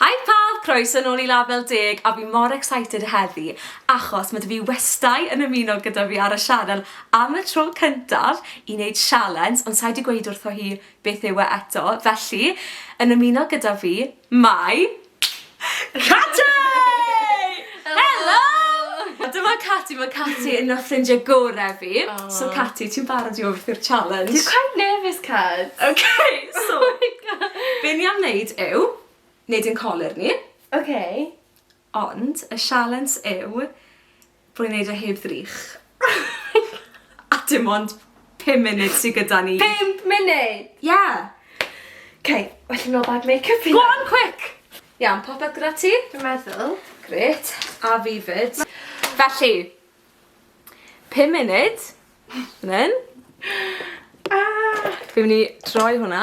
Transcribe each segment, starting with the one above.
Hi pawb, croeso nôl i Label Deg a fi mor excited heddi achos ma' 'da fi westai yn ymuno gyda fi ar y sianel am y tro cyntaf i neud sialens ond sai 'di gweud wrtho hi beth yw e eto felly yn ymuno gyda fi mae Cati! Helo! A dyma Cati, mae Cati yn ffrindiau gore fi. So Cati, ti'n barod i wrth i'r challenge? Dwi'n quite nervous, Cat. Ok, so be ni am wneud yw, wneud ein colur ni. Ok. Ond y sialens yw bod ni'n wneud e heb ddrych. A dim ond... Pum munud sydd gyda ni. Pump munud? Ie. Okay, well i mi ol bag make-up fi. Go on, quick! Iawn, popeth gyda ti? Dwi'n meddwl. Gret, a fi fyd. Felly, pum munud, fan hyn. Ah! Fi'n mynd i troi hwnna.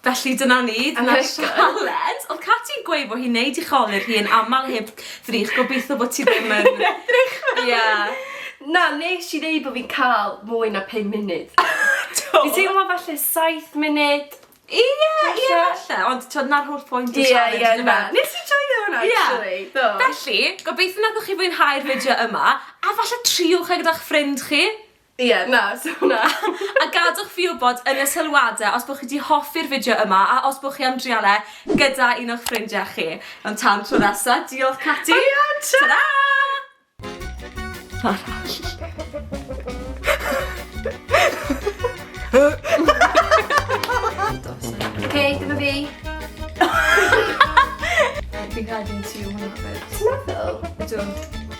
Felly dyna ni, dyna'r sioe. Caled! Oedd Cati yn gweud bod hi'n neud i cholur hi yn aml heb ddrych, gobeithio bod ti ddim yn... Heb ddrych fel hyn! Ie. Na, nes i ddeud bod fi'n cael mwy na pum munud. Do! Fi'n teimlo falle saith munud. Ie, ie falle, ond t'od 'na'r holl pwynt o'r sialens yndyfe? Ie, ie, na. Nes i joio hwnna actually, do. Felly, gobeithio nathoch chi fwynhau'r fideo yma, a falle triwch e gyda'ch ffrind chi. Ie, yeah, na, so na. a gadwch fi wybod yn y sylwadau os bod chi wedi hoffi'r fideo yma a os bod chi am drial e gyda un o'ch ffrindiau chi. Ond tan tro nesa, diolch Cati! O ia, ta-ra! Oce, dyma fi. Fi'n cael gen ti hwnna fyd. Ti'n meddwl? Ydw.